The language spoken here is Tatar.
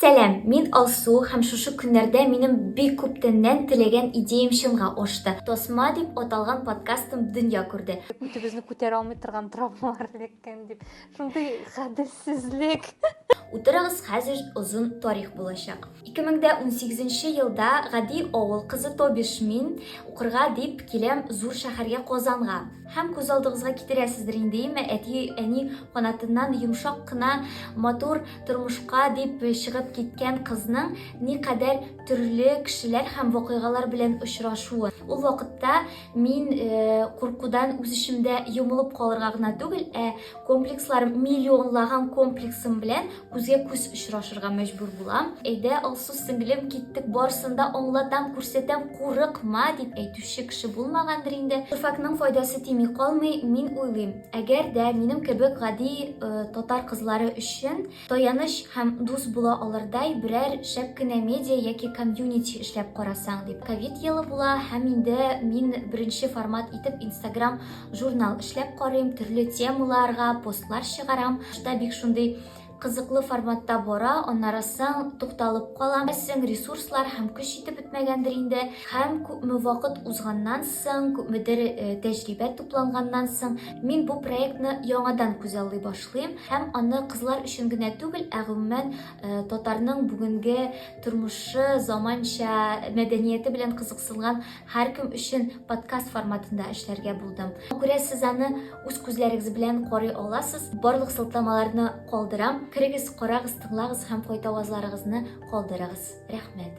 Сәлам, мин Алсу һәм шушы көннәрдә минем бик күптәннән теләгән идеям чынга ашты. Тасма дип аталган подкастым дөнья күрде. Үтебезне күтәрә алмый торган травмалар эләккән дип. Шундый гаделсезлек. Утырыгыз, хәзер озын тарих булачак. 2018 нче елда гади авыл кызы, то биш мин, укырга дип киләм зур шәһәргә Казанга. Һәм күз алдыгызга китерәсездер инде, име, әти, әни канатыннан йомшак кына матур тормышка дип чыгып киткән кызның никадәр төрле кешеләр һәм вакыйгалар белән очрашуы. Ул вакытта мин э, куркудан үз эчемдә йомылып калырга гына түгел, ә комплекслар миллионлаган комплексым белән күзгә күз очрашырга мәҗбүр булам әйдә алсу сеңлем киттек барысын да аңлатам күрсәтәм курыкма дип әйтүче кеше булмагандыр инде шәфәкнең файдасы тими калмый мин уйлыйм әгәр дә минем кебек гади э, татар кызлары өчен Таяныч һәм дус була алырдай берәр шәп кенә медиа яки комьюнити эшләп карасаң, дип. Ковид елы була һәм инде мин беренче формат итеп инстаграм журнал эшләп карыйм, төрле темаларга постлар чыгарам. Башта бик шундый кызыклы форматта бара, аннары соң тукталып калам. Беләсең, ресурслар һәм көч җитеп бетмәгәндер инде. Һәм күпме вакыт узганнан соң, күпмедер тәҗрибә тупланганнан соң, мин бу проектны яңадан күзаллый башладым. Котлыйм һәм аны кызлар өчен генә түгел, ә гомумән татарның бүгенге тормышы, заманча мәдәнияте белән кызыксынган һәркем өчен подкаст форматында эшләргә булдым. Күрә сез аны үз күзләрегез белән карый аласыз. Барлык сылтамаларны калдырам. Керегез, карагыз, тыңлагыз һәм кайтавазларыгызны калдырыгыз. Рәхмәт.